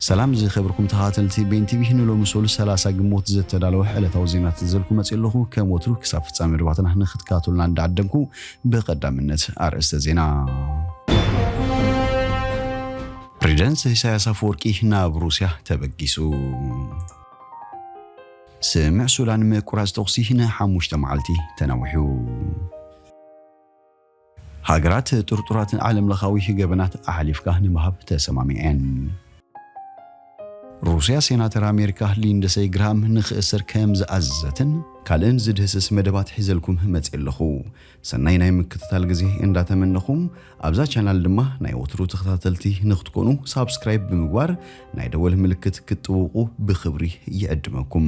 ሰላም ዝከብርኩም ተከታተልቲ ቤን ቲቪ ንሎሚ ሶሉስ ሰላሳ ግንቦት ዘተዳለወ ዕለታዊ ዜናት ዝዘልኩ መጽየ ኣለኩ ከም ወትሩ ክሳብ ፍጻሜ መደባትና ንክትከታተሉና እንዳዓደምኩ ብቀዳምነት ኣርእስተ ዜና ፕሬዚደንት ኢሳያስ ኣፈወርቂ ናብ ሩስያ ተበጊሱ። ስምዕ ሱዳን ምቁራጽ ተኹሲ ንሓሙሽተ መዓልቲ ተናዊሑ። ሃገራት ጥርጡራት ንዓለምለኻዊ ገበናት ኣሕሊፍካ ንምሃብ ተሰማሚዐን። ሩስያ ሴናተር ኣሜሪካ ሊንድሰይ ግራሃም ንኽእሰር ከም ዝኣዘዘትን ካልእን ዝድህስስ መደባት ሒዘልኩም መጺኤ ኣለኹ። ሰናይ ናይ ምክትታል ግዜ እንዳተመነኹ ኣብዛ ቻናል ድማ ናይ ወትሩ ተኸታተልቲ ንኽትኮኑ ሳብስክራይብ ብምግባር ናይ ደወል ምልክት ክትጥውቁ ብኽብሪ ይዕድመኩም።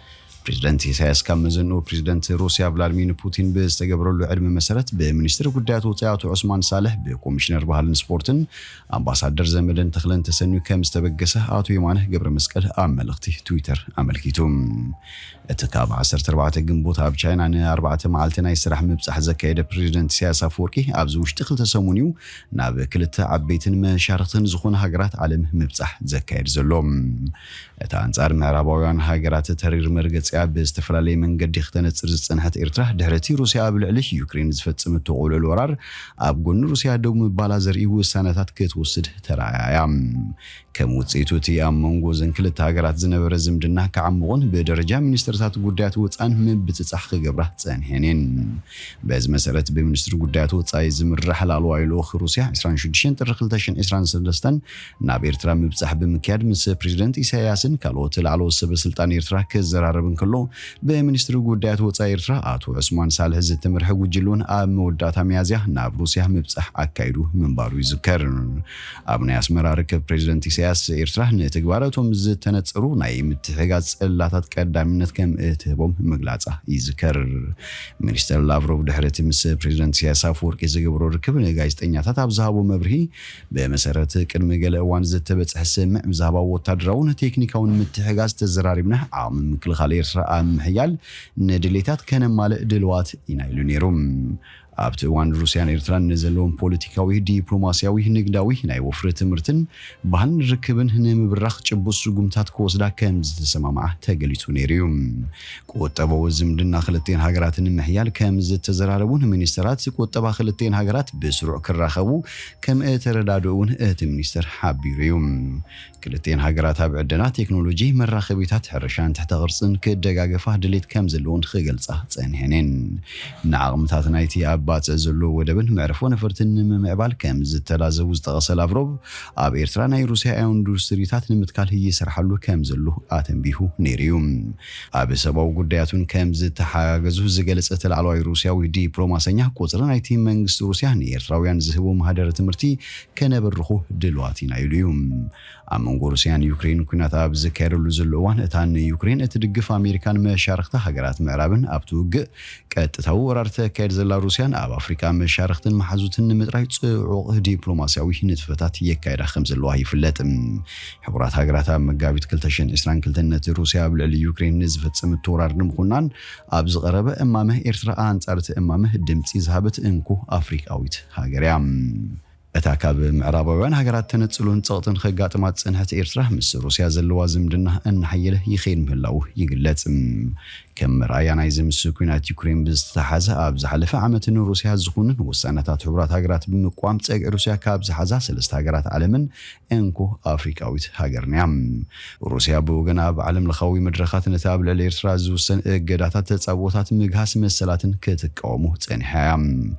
ፕሬዝደንት ኢሳያስ ካብ መዘንኡ ፕሬዝደንት ሩስያ ቭላድሚን ፑቲን ብዝተገበረሉ ዕድመ መሰረት ብሚኒስትር ጉዳያት ወፃኢ ኣቶ ዑስማን ሳልሕ ብኮሚሽነር ባህልን ስፖርትን ኣምባሳደር ዘመደን ተኽለን ተሰንዩ ከም ዝተበገሰ ኣቶ የማነ ገብረመስቀል ኣብ መልእኽቲ ትዊተር ኣመልኪቱ። እቲ ካብ 14 ግንቦት ኣብ ቻይና ንኣርባዕተ መዓልቲ ናይ ስራሕ ምብፃሕ ዘካየደ ፕሬዝደንት ኢሳያስ ኣፈወርቂ ኣብዚ ውሽጢ ክልተ ሰሙን እዩ ናብ ክልተ ዓበይትን መሻርኽትን ዝኾነ ሃገራት ዓለም ምብፃሕ ዘካየድ ዘሎ። እታ ኣንጻር ምዕራባውያን ሃገራት ተሪር መርገጺኣ ብዝተፈላለየ መንገዲ ክተነጽር ዝጸንሐት ኤርትራ፣ ድሕሪ'ቲ ሩስያ ኣብ ልዕሊ ዩክሬን ዝፈጸመቶ ቅሉዕሉዕ ወራር፣ ኣብ ጎኒ ሩስያ ደው ምባላ ዘርእዩ ውሳነታት ክትወስድ ተራእያ እያ። ከም ውጽኢቱ እቲ ኣብ መንጎ እዘን ክልተ ሃገራት ዝነበረ ዝምድና ክዓሙቕን ብደረጃ ሚኒስተርታት ጉዳያት ወጻእን ምብጽጻሕ ክገብራ ጸኒሐን እየን። በዚ መሰረት ብሚኒስትሪ ጉዳያት ወጻኢ ዝምራሕ ላዕለዋይ ልኡኽ ሩስያ ዕስራን ሽዱሽተን ጥሪ ክልተ ሽሕን ዕስራን ሰለስተን ናብ ኤርትራ ምብጻሕ ብምክያድ ምስ ፕረዚደንት ኢሳይያስን ካልኦት ላዕለዎት ሰበስልጣን ኤርትራ ክዘራረብ እንከሎ፣ ብሚኒስትሪ ጉዳያት ወጻኢ ኤርትራ ኣቶ ዑስማን ሳልሕ ዝትምርሐ ጉጅለ'ውን ኣብ መወዳእታ ሚያዝያ ናብ ሩስያ ምብጻሕ ኣካይዱ ምንባሩ ይዝከር። ኣብ ናይ ኣስመራ ርክብ ፕረዚደንት ኢሳይያስ፣ ኤርትራ ንተግባራቶም ዝተነጸሩ ናይ ምትሕግጋዝ ጽላታት ቀዳምነት ከም እትህቦም ምግላጻ ይዝከር። ሚኒስተር ላቭሮቭ ድሕሪ'ቲ ምስ ፕረዚደንት ኢሳይያስ ኣፈወርቂ ዝገበሮ ርክብ ንጋዜጠኛታት ኣብ ዝሃቦ መብርሂ፣ ብመሰረት ቅድሚ ገለ እዋን ዝተበጽሐ ስምምዕ ብዛዕባ ወታደራውን ቴክኒካውን ምትሕጋዝ ተዘራሪብና ዓቕሚ ምክልኻል ኤርትራ ኣብ ምሕያል ንድሌታት ከነማልእ ድልዋት ኢና ኢሉ ነይሩ። ኣብቲ እዋን ሩስያን ኤርትራን ንዘለዎም ፖለቲካዊ፣ ዲፕሎማስያዊ፣ ንግዳዊ፣ ናይ ወፍሪ ትምህርትን ባህልን ርክብን ንምብራኽ ጭቡጥ ስጉምትታት ክወስዳ ከምዝተሰማምዓ ተገሊጹ ነይሩ'ዩ። ቁጠበዊ ዝምድና ክልቲኤን ሃገራት ንምሕያል ከምዝተዘራረቡን ሚኒስተራት ቁጠባ ክልቲኤን ሃገራት ብስሩዕ ክራኸቡ ከምእተረዳድኡ'ውን እቲ ሚኒስተር ሓቢሩ እዩ። ክልቲኤን ሃገራት ኣብ ዕደና፣ ቴክኖሎጂ፣ መራኸቢታት፣ ሕርሻን ትሕተ ቅርጽን ክደጋገፋ ድሌት ከምዘለወን ክገልጻ ጸኒሐን'የን። ንዓቕምታት ናይቲ ኣብ ባጽዕ ዘሎ ወደብን መዕርፎ ነፈርትን ንምምዕባል ከምዝተላዘቡ ዝጠቐሰ ላቭሮቭ፣ ኣብ ኤርትራ ናይ ሩስያ ኢንዱስትሪታት ንምትካል ይስርሓሉ ከምዘሎ ኣተንቢሁ ነይሩ እዩ። ኣብ ሰብኣዊ ጉዳያት'ውን ከም ዝተሓጋገዙ ዝገለጸ እቲ ላዕለዋይ ሩስያዊ ዲፕሎማሰኛ፣ ቁጽሪ ናይቲ መንግስቲ ሩስያ ንኤርትራውያን ዝህቦ ማህደረ ትምህርቲ ከነብርኹ ድልዋት ኢና ኢሉ እዩ። ኣብ መንጎ ሩስያን ዩክሬንን ኲናት ኣብ ዝካየደሉ ዘሎ እዋን፣ እታ ንዩክሬን እትድግፍ ኣሜሪካን መሻርኽታ ሃገራት ምዕራብን ኣብቲ ውግእ ቀጥታዊ ወራር ተካየድ ዘላ ሩስያ ንኣብ ኣፍሪቃ መሻርኽትን መሓዙትን ንምጥራይ ጽዑቕ ዲፕሎማስያዊ ንጥፈታት የካይዳ ከምዘለዋ ይፍለጥ። ሕቡራት ሃገራት ኣብ መጋቢት ክልተ ሽሕን ዕስራን ክልተን ነቲ ሩስያ ኣብ ልዕሊ ዩክሬን ንዝፈጸመቶ ወራር ንምኹናን ኣብ ዝቐረበ እማመ ኤርትራ ኣንጻር እቲ እማመ ድምጺ ዝሃበት እንኮ ኣፍሪቃዊት ሃገር እያ። እታ ካብ ምዕራባውያን ሃገራት ተነጽሎን ጸቕጥን ኸጋጥማ ዝጸንሐት ኤርትራ፣ ምስ ሩስያ ዘለዋ ዝምድና እናሓየለ ይኸይድ ምህላዉ ይግለጽ። ከም መርኣያ ናይዚ ምስ ኲናት ዩክሬን ብዝተተሓሓዘ፣ ኣብ ዝሓለፈ ዓመት ንሩስያ ዝኹንን ውሳነታት ሕቡራት ሃገራት ብምቅዋም ጸግዒ ሩስያ ካብ ዝሓዛ ሰለስተ ሃገራት ዓለምን እንኮ ኣፍሪቃዊት ሃገርን'ያ። ሩስያ ብወገና ኣብ ዓለምለኻዊ መድረኻት ነቲ ኣብ ልዕሊ ኤርትራ ዝውሰን እገዳታት ተጻብኦታት ምግሃስ መሰላትን ክትቃወሞ ጸኒሓ'ያ።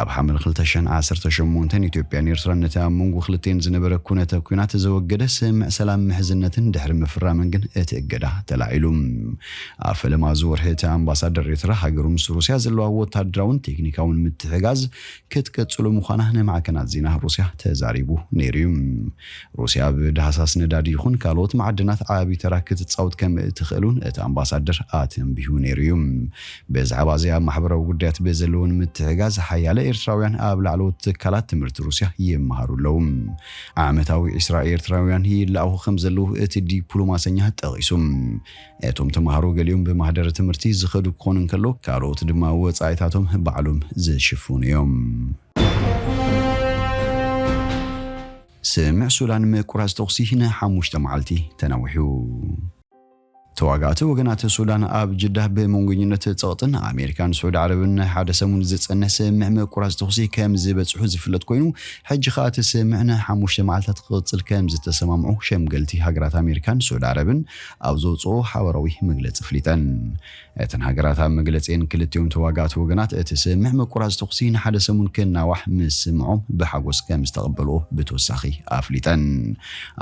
ኣብ ሓምለ ክልተ ሽሕን ዓሰርተ ሸሞንተን ኢትዮጵያን ኤርትራን ነቲ ኣብ መንጎ ክልቲኤን ዝነበረ ኩነተ ኩናት ዘወገደ ስምምዕ ሰላም ምሕዝነትን ድሕሪ ምፍራመን ግን እቲ እገዳ ተላዒሉ። ኣብ ፈለማ እዚ ወርሒ እቲ ኣምባሳደር ኤርትራ ሃገሩ ምስ ሩስያ ዘለዋ ወታደራውን ቴክኒካውን ምትሕጋዝ ክትቅጽሉ ምዃና ንማዕከናት ዜና ሩስያ ተዛሪቡ ነይሩ'ዩ። ሩስያ ኣብ ዳህሳስ ነዳዲ ይኹን ካልኦት ማዕድናት ዓቢ ተራ ክትጻወት ከም እትኽእል'ውን እቲ ኣምባሳደር ኣተንቢሁ ነይሩ እዩ። ብዛዕባ እዚ ኣብ ማሕበራዊ ጉዳያት ብዘለወን ምትሕጋዝ ሓያለ ኤርትራውያን ኣብ ላዕለዎት ትካላት ትምህርቲ ሩስያ ይመሃሩ ኣለዉ። ዓመታዊ ዕስራ ኤርትራውያን ይለኣኹ ከም ዘለዉ እቲ ዲፕሎማሰኛ ጠቒሱ። እቶም ተማሃሮ ገሊኦም ብማህደረ ትምህርቲ ዝኸዱ ክኾኑ እንከሎ ካልኦት ድማ ወጻኢታቶም ባዕሎም ዝሽፍኑ እዮም። ስምምዕ ሱዳን ምቁራጽ ተኹሲ ንሓሙሽተ መዓልቲ ተናዊሑ። ተዋጋእቲ ወገናት ሱዳን ኣብ ጅዳ ብመንጎኝነት ጸቕጥን ኣሜሪካን ስዑዲ ዓረብን ናይ ሓደ ሰሙን ዝጸንሕ ስምምዕ ምቁራጽ ተኹሲ ከም ዝበጽሑ ዝፍለጥ ኮይኑ ሕጂ ከኣ እቲ ስምምዕ ንሓሙሽተ መዓልታት ክቕጽል ከም ዝተሰማምዑ ሸምገልቲ ሃገራት ኣሜሪካን ስዑዲ ዓረብን ኣብ ዘውጽኦ ሓበራዊ መግለጺ ኣፍሊጠን። እተን ሃገራት ኣብ መግለጺኤን ክልቲኦም ተዋጋእቲ ወገናት እቲ ስምምዕ ምቁራጽ ተኹሲ ንሓደ ሰሙን ክናዋሕ ምስምዖም ብሓጎስ ከምዝተቐበልዎ ብተወሳኺ ኣፍሊጠን።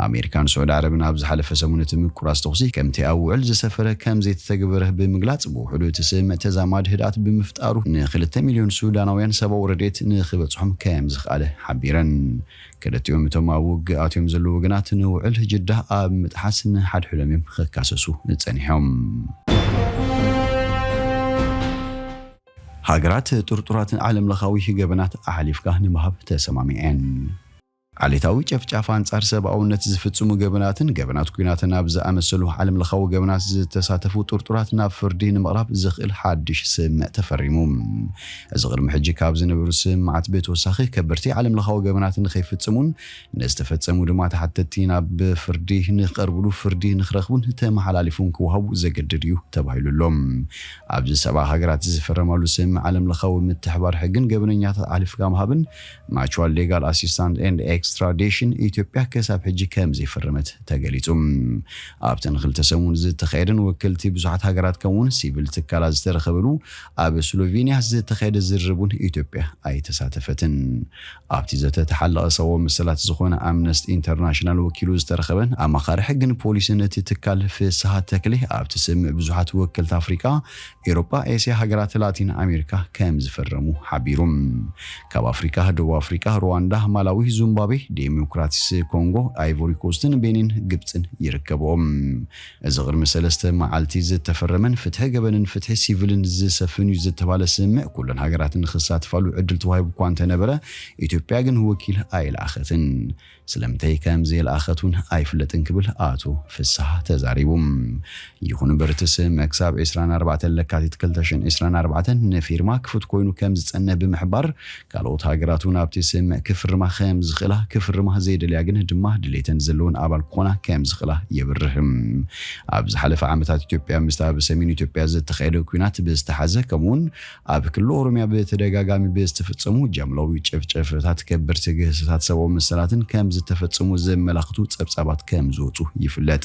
ኣሜሪካን ስዑዲ ዓረብን ኣብ ዝሓለፈ ሰሙን እቲ ምቁራጽ ተኹሲ ከምቲ ኣብ ውዕል ዝሰፈረ ከምዘይተተግበረ ብምግላጽ ብውሕዱ እቲ ስምምዕ ተዛማዲ ህድኣት ብምፍጣሩ ንክልተ ሚልዮን ሱዳናውያን ሰብኣዊ ረድኤት ንክበጽሖም ከምዝኽኣለ ሓቢረን። ክልቲኦም እቶም ኣብ ውግእ ኣትዮም ዘለዉ ወገናት ንውዕል ጅዳ ኣብ ምጥሓስ ንሓድሕዶም እዮም ክካሰሱ ጸኒሖም። ሃገራት ጥርጡራት ንዓለም ለኻዊ ገበናት ኣሕሊፍካ ንምሃብ ተሰማሚዐን። ዓሌታዊ ጨፍጫፍ፣ ኣንጻር ሰብኣውነት ዝፍጽሙ ገበናትን ገበናት ኲናትን ኣብ ዝኣመሰሉ ዓለም ለኻዊ ገበናት ዝተሳተፉ ጥርጡራት ናብ ፍርዲ ንምቕራብ ዘኽእል ሓድሽ ስምምዕ ተፈሪሙ። እዚ ቅድሚ ሕጂ ካብ ዝነበሩ ስምምዓት ብተወሳኺ ከበድቲ ዓለምለኻዊ ገበናት ንከይፍጽሙን ንዝተፈጸሙ ድማ ተሓተትቲ ናብ ፍርዲ ንክቀርብሉ ፍርዲ ንክረኽቡን ተመሓላሊፉን ክወሃቡ ዘገድድ እዩ ተባሂሉ ኣሎ። ኣብዚ ሰብኣ ሃገራት ዝፈረማሉ ስምምዕ ዓለምለኻዊ ምትሕባር ሕግን ገበነኛታት ኣሕሊፍካ ምሃብን፣ Mutual Legal Assistance and Extradition፣ ኢትዮጵያ ክሳብ ሕጂ ከምዘይፈረመት ተገሊጹ። ኣብተን ክልተ ሰሙን ዝተኻየደን ወከልቲ ብዙሓት ሃገራት ከምኡ'ውን ሲቪል ትካላት ዝተረኸብሉ ኣብ ስሎቬንያ ዝተኻየደ ዝርርብ እውን ኢትዮጵያ ኣይተሳተፈትን። ኣብቲ ዘተ ተሓላቒ ሰብኣዊ መሰላት ዝኾነ ኣምነስት ኢንተርናሽናል ወኪሉ ዝተረኸበን ኣማኻሪ ሕግን ፖሊስን እቲ ትካል ፍስሃ ተክሌ ኣብቲ ስምምዕ ብዙሓት ወከልቲ ኣፍሪቃ፣ ኤሮጳ፣ ኤስያ፣ ሃገራት ላቲን ኣሜሪካ ከምዝፈረሙ ሓቢሩ። ካብ ኣፍሪቃ ደቡብ ኣፍሪቃ፣ ሩዋንዳ፣ ማላዊ፣ ዙምባቤ፣ ዴሞክራቲስ ኮንጎ፣ ኣይቮሪኮስትን ቤኒን ግብጽን ይርከብኦም። እዚ ቅድሚ ሰለስተ መዓልቲ ዝተፈረመን ፍትሒ ገበንን ፍትሒ ሲቪልን ዝሰፍን እዩ ዝተባለ ስምምዕ ኩለን ሃገራት ንኽሳትፋሉ ዕድል ተዋሂቡ እኳ እንተነበረ ኢትዮጵያ ግን ወኪል ኣይልኣኸትን። ስለምንታይ ከምዘየልኣኸት እውን ኣይፍለጥን ክብል ኣቶ ፍስሃ ተዛሪቡ። ይኹን እምበር እቲ ስምምዕ ክሳብ ዕስራን ኣርባዕተን ለካቲት ክልተ ሽሕን ዕስራን ኣርባዕተን ንፊርማ ክፉት ኮይኑ ከምዝፀንሕ ብምሕባር ካልኦት ሃገራት እውን ኣብቲ ስምምዕ ክፍርማ ከም ዝኽእላ፣ ክፍርማ ዘይደልያ ግን ድማ ድሌተን ዘለወን ኣባል ክኾና ከም ዝኽእላ የብርህ። ኣብ ዝሓለፈ ዓመታት ኢትዮጵያ ምስቲ ኣብ ሰሜን ኢትዮጵያ ዝተኻየደ ኲናት ብዝተሓሓዘ ከምኡ እውን ኣብ ክልል ኦሮሚያ ብተደጋጋሚ ብዝተፈፀሙ ጃምላዊ ጭፍጨፈታት ከበድቲ ግህሰታት ሰብኣዊ መሰላትን ከም ዝተፈፀሙ ዘመላኽቱ ፀብፃባት ከም ዝወፁ ይፍለጥ።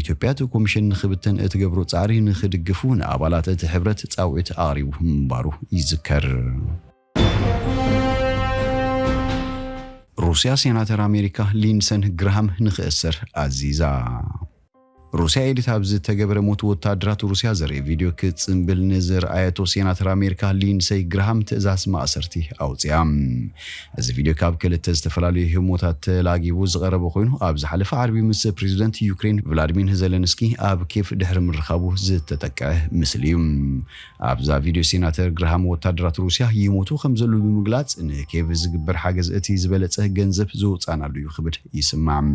ኢትዮጵያ እቲ ኮሚሽን ንኽብተን እትገብሮ ፃዕሪ ንኽድግፉ ንኣባላት እቲ ሕብረት ፃውዒት ኣቕሪቡ ምንባሩ ይዝከር። ሩስያ ሴናተር ኣሜሪካ ሊንሰን ግራሃም ንኽእሰር ኣዚዛ። ሩስያ ኤዲት ኣብ ዝተገበረ ሞት ወታደራት ሩስያ ዘርኢ ቪድዮ ክትጽንብል ንዝርኣየቶ ሴናተር ኣሜሪካ ሊንሰይ ግራሃም ትእዛዝ ማእሰርቲ ኣውጺኣ። እዚ ቪድዮ ካብ ክልተ ዝተፈላለዩ ህሞታት ተላጊቡ ዝቐረበ ኮይኑ፣ ኣብ ዝሓለፈ ዓርቢ ምስ ፕሬዚደንት ዩክሬን ቭላድሚንህ ዘለንስኪ ኣብ ኬቭ ድሕሪ ምርኻቡ ዝተጠቀዐ ምስሊ እዩ። ኣብዛ ቪድዮ ሴናተር ግራሃም ወታደራት ሩሲያ ይሞቱ ከምዘለዉ ብምግላጽ ንኬቭ ዝግበር ሓገዝ እቲ ዝበለጸ ገንዘብ ዘውጻእናሉ እዩ ክብል ይስማዕ።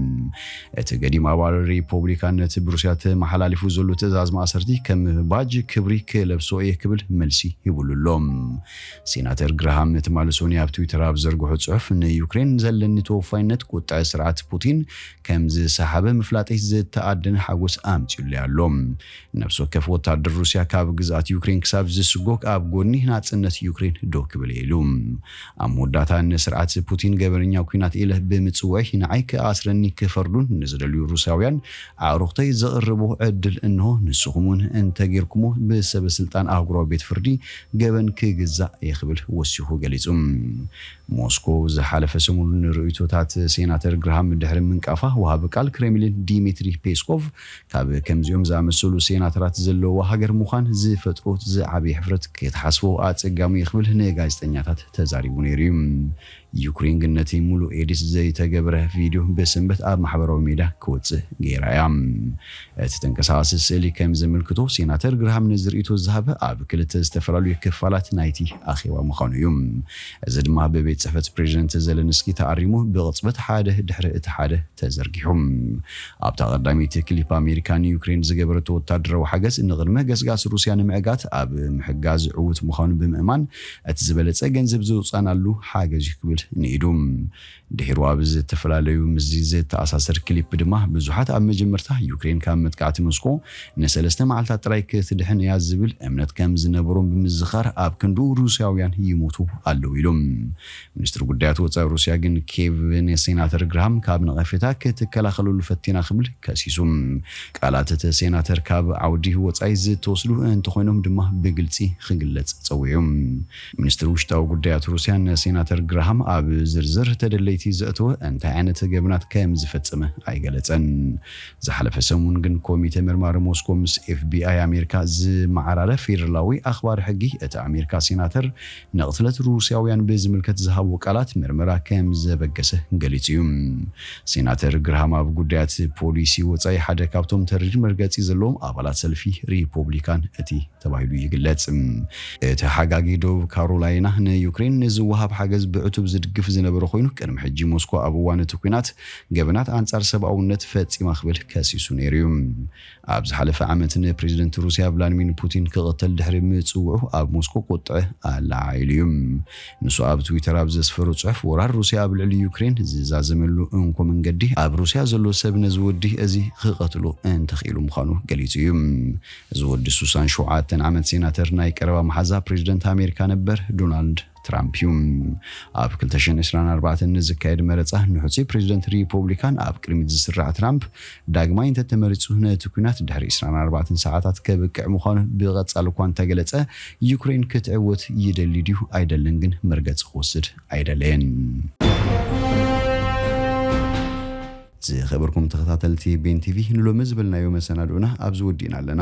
እቲ ገዲም ኣባል ሪፖብሊካን ነቲ ብሩሲያ ተመሓላሊፉ ዘሎ ትእዛዝ ማእሰርቲ ከም ባጅ ክብሪ ክለብሶ እየ ክብል መልሲ ሂቡሉ ኣሎ። ሴናተር ግራሃም ትማሊ ሶኑይ ኣብ ትዊተር ኣብ ዝዘርግሖ ጽሑፍ፣ ንዩክሬን ዘለኒ ተወፋይነት ቁጥዐ ስርዓት ፑቲን ከም ዝሰሓበ ምፍላጠይ ዝተኣደነ ሓጎስ ኣምጺኡለይ ኣሎ። ነፍሲ ወከፍ ወተሃደር ሩስያ ካብ ግዝኣት ዩክሬን ክሳብ ዝስጎግ ኣብ ጎድኒ ናጽነት ዩክሬን ደው ክብል እየ ኢሉ። ኣብ መወዳእታ ንስርዓት ፑቲን ገበነኛ ኲናት ኢለ ብምጽውዐይ ንዓይ ክኣስረኒ ክፈርዱን ንዝደልዩ ሩስያውያን ኣዕሩኽተይ ዘቕርቦ ዕድል እንሆ ንስኹም እውን እንተጌርኩሞ ብሰበስልጣን ኣህጉራዊ ቤት ፍርዲ ገበን ክግዛእ እየ ክብል ወሲኹ ገሊጹ። ሞስኮ ዝሓለፈ ሰሙን ንርእይቶታት ሴናተር ግራሃም ድሕሪ ምንቃፋ፣ ወሃቢ ቃል ክሬምሊን ዲሚትሪ ፔስኮቭ ካብ ከምዚኦም ዝኣመሰሉ ሴናተራት ዘለዉዋ ሃገር ምዃን ዝፈጥሮ ዝዓበየ ሕፍረት ክትሓስቦ ኣጸጋሚ'ዩ ክብል ንጋዜጠኛታት ተዛሪቡ ነይሩ'ዩ። ዩክሬን ግን ነቲ ምሉእ ኤዲት ዘይተገብረ ቪድዮ ብሰንበት ኣብ ማሕበራዊ ሜድያ ክወጽእ ገይራ እያ። እቲ ተንቀሳቓሲ ስእሊ ከም ዘመልክቶ፣ ሴናተር ግራሃም ነዚ ርእይቶ ዝሃበ ኣብ ክልተ ዝተፈላለዩ ክፋላት ናይቲ ኣኼባ ምዃኑ እዩ። እዚ ድማ ብቤት ጽሕፈት ፕሬዚደንት ዘለንስኪ ተኣሪሙ ብቕጽበት ሓደ ድሕሪ እቲ ሓደ ተዘርጊሑ። ኣብታ ቀዳመይቲ ክሊፕ ኣሜሪካ ንዩክሬን ዝገበረቶ ወታደራዊ ሓገዝ ንቕድመ ገስጋስ ሩስያ ንምዕጋት ኣብ ምሕጋዝ ዕዉት ምዃኑ ብምእማን እቲ ዝበለጸ ገንዘብ ዘውጻእናሉ ሓገዝ'ዩ ክብል ንኢዱ። ድሒሩ ኣብ ዝተፈላለዩ ምስዚ ዝተኣሳሰር ክሊፕ ድማ ብዙሓት ኣብ መጀመርታ ዩክሬን ካብ መጥቃዕቲ ሞስኮ ንሰለስተ መዓልታት ጥራይ ክትድሕን እያ ዝብል እምነት ከም ዝነበሮም ብምዝኻር ኣብ ክንድኡ ሩስያውያን ይሞቱ ኣለዉ ኢሉ። ሚኒስትሪ ጉዳያት ወጻኢ ሩስያ ግን ኬቭ ንሴናተር ግራሃም ካብ ነቐፌታ ክትከላኸለሉ ፈቲና ክብል ከሲሱ። ቃላት እቲ ሴናተር ካብ ዓውዲ ወጻኢ ዝተወስዱ እንተኾይኖም ድማ ብግልጺ ክግለጽ ጸዊዑ። ሚኒስትሪ ውሽጣዊ ጉዳያት ሩስያ ንሴናተር ግራሃም ኣብ ዝርዝር ተደለይቲ ዘእተወ እንታይ ዓይነት ገበናት ከምዝፈጸመ ኣይገለጸን። ዝሓለፈ ሰሙን ግን ኮሚተ መርማሪ ሞስኮ ምስ ኤፍቢኣይ ኣሜሪካ ዝመዓራረ ፌደራላዊ ኣኽባሪ ሕጊ እቲ ኣሜሪካ ሴናተር ንቕትለት ሩስያውያን ብዝምልከት ዝሃቦ ቃላት ምርመራ ከም ዘበገሰ ገሊጹ እዩ። ሴናተር ግርሃም ኣብ ጉዳያት ፖሊሲ ወጻኢ ሓደ ካብቶም ተሪር መርገጺ ዘለዎም ኣባላት ሰልፊ ሪፖብሊካን እቲ ተባሂሉ ይግለጽ። እቲ ሓጋጊ ደቡብ ካሮላይና ንዩክሬን ንዝወሃብ ሓገዝ ብዕቱብ ዝድግፍ ዝነበረ ኮይኑ ቅድሚ ሕጂ ሞስኮ ኣብ እዋን እቲ ኲናት ገበናት ኣንጻር ሰብኣውነት ፈጺማ ክብል ከሲሱ ነይሩ እዩ። ኣብ ዝሓለፈ ዓመት ንፕሬዝደንት ሩስያ ቭላድሚን ፑቲን ክቕተል ድሕሪ ምጽውዑ ኣብ ሞስኮ ቁጥዐ ኣለዓዒሉ'ዩ። ንሱ ኣብ ትዊተር ኣብ ዘስፈሮ ጽሑፍ፣ ወራር ሩስያ ኣብ ልዕሊ ዩክሬን ዝዛዘመሉ እንኮ መንገዲ፣ ኣብ ሩስያ ዘሎ ሰብ ነዚ ወዲ እዚ ክቐትሎ እንተኽኢሉ ምዃኑ ገሊጹ'ዩ። እዚ ወዲ ሱሳን ሸውዓተ ዓመት ሴናተር ናይ ቀረባ መሓዛ ፕሬዝደንት ኣሜሪካ ነበር ዶናልድ ትራምፕ እዩ። ኣብ ክልተ ሽሕን ዕስራን ኣርባዕተን ንዝካየድ መረጻ ንሕጹይ ፕረዚደንት ሪፖብሊካን ኣብ ቅድሚት ዝስራዕ ትራምፕ፣ ዳግማይ እንተተመሪጹ ነቲ ኲናት ድሕሪ ዕስራን ኣርባዕተን ሰዓታት ከብቅዕ ምዃኑ ብቐጻሊ እኳ እንተገለጸ፣ ዩክረይን ክትዕወት ይደሊ ድዩ ኣይደልን ግን መርገጺ ክወስድ ኣይደለየን። ዝኸበርኩም ተኸታተልቲ ቤን ቲቪ ንሎሚ ዝበልናዮ መሰናድኦና ኣብዚ ወዲእና ኣለና።